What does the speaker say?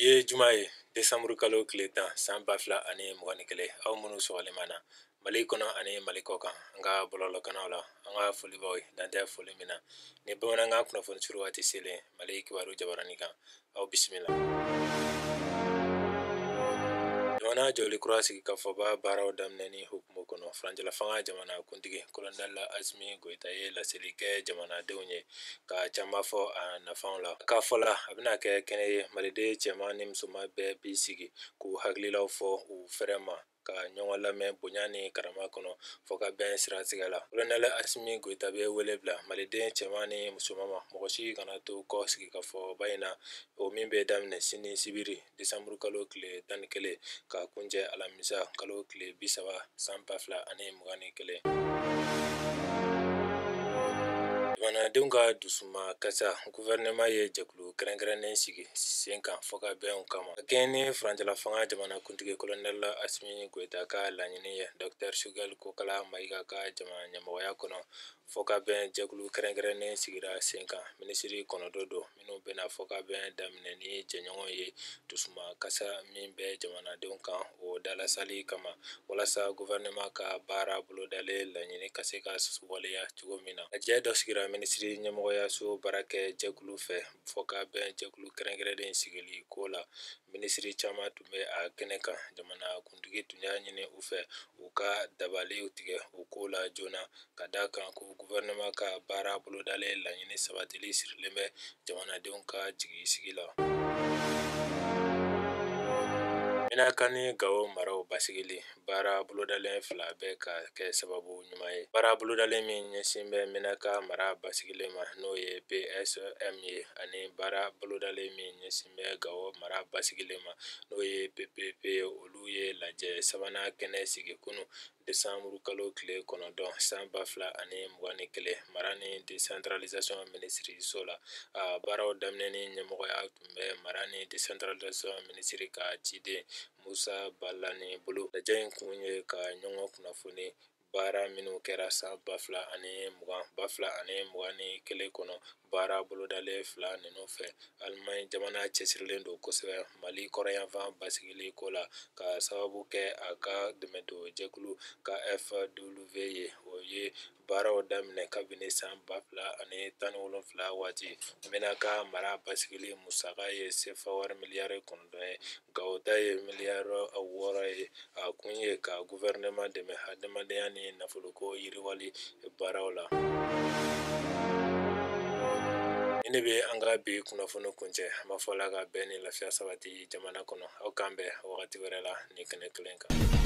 ye juma ye desanburu kalo tile tan san ba fila ani mugan ni kelen aw minnu sɔgɔlen b'an na mali kɔnɔ ani mali kɔkan an ka bɔlɔlɔkanaw la an ka foli b'aw ye dan tɛ foli min na ni bamanankan kunnafoni surun waati selen mali kibaru jabaranin kan aw bisimila jamana jɔli kura sigikafɔba baaraw daminɛni hukumu kɔnɔ furancɛla fanga jamana kuntigi kolonɛli asimi goyita ye laseli kɛ jamanadenw ye ka caman fɔ a nafanw la k'a fɔ la a bɛna kɛ kɛnɛ ye maliden cɛman ni musoman bɛɛ bi sigi k'u hakililaw fɔ u fɛrɛ ma ka ɲɔgɔn lamɛn bonya ni karama kɔnɔ fɔ ka bɛn siratigɛ la kolonɛli asimi goyita bɛ wele bila maliden cɛman ni musoman ma mɔgɔ si kana to kɔ sigikafɔba in na o min bɛ daminɛ sini sibiri desanburu kalo tile tan ni kelen ka kuncɛ alamisa kalo tile bi saba san ba fila ani mugan ni kelen jamanadenw ka dusuma kasa guvɛrɛnɛma ye jɛkulu kɛrɛnkɛrɛnnen sigi sen kan fɔ ka bɛnw kama ka kɛɲɛ ni furancɛla fanga jamana kuntigi kolonɛl asimi goyita ka laɲini ye dɔktɛr sugɛl kokala mayiga ka jamana ɲɛmɔgɔya kɔnɔ fɔ ka bɛn jɛkulu kɛrɛnkɛrɛnnen sigira sen kan minisiri kɔnɔntɔn don minnu bɛna fɔ ka bɛn daminɛ ni jɛɲɔgɔn ye dusuma kasa min bɛ jamanadenw kan o dalasali kama walasa guvɛrɛnɛma ka baara bolodalen laɲini ka se ka waleya cogo min na lajɛ dɔ sigira minisiri ɲɛmɔgɔyaso baarakɛ jɛkulu fɛ fɔ ka bɛn jɛkulu kɛrɛnkɛrɛnnen sigili ko la minisiri caman tun bɛ a kɛnɛ kan jamanakuntigi tun y'a ɲini u fɛ u ka dabaliw tigɛ o ko la joona ka da kan ko guvɛrɛnɛma ka baara bolodalen laɲini sabatili sirilen bɛ jamanadenw ka jigisigi la menaka ni gawo maraw basigili baara bolodalen fila bɛ ka kɛ sababu ɲuman ye baara bolodalen min ɲɛsin bɛ menaka mara basigili ma n'o ye psm ye ani baara bolodalen min ɲɛsin bɛ gawo mara basigili ma n'o ye ppp olu ye lajɛ sabanan kɛnɛ sigi kunun desanburu kalo tile kɔnɔntɔn san ba fila ani mugan ni kelen mara ni desantiralizasɔn minisiriso la a baaraw daminɛni ɲɛmɔgɔya tun bɛ mara ni desantiralizasɔn minisiri ka ciden musa balani bolo lajɛ in kun ye ka ɲɔgɔn kunnafoni baara minnu kɛra san ba fila ani mugan ba fila ani mugan ni kelen kɔnɔ baara bolodalen fila ninnu fɛ alimaɲi jamana cɛsirilen don kosɛbɛ mali kɔrɔnyanfan basigili ko la ka sababu kɛ a ka dɛmɛdon jɛkulu kfw ye o ye baaraw daminɛ kabini san ba fila ani tan ni wolonwula waati menaka mara basigili musaka ye sefa wari miliyari kɔnɔntɔn ye gawo ta ye miliyari wɔɔrɔ ye a kun ye ka gufɛrɛnɛma dɛmɛ hadamadenya ni nafoloko yiriwali baaraw la nin de bɛ an ka bi kunnafoni kuncɛ an b'a fɔ ala ka bɛn ni lafiya sabati jamana kɔnɔ aw k'an bɛn wagati wɛrɛ la nin kɛnɛ kelen kan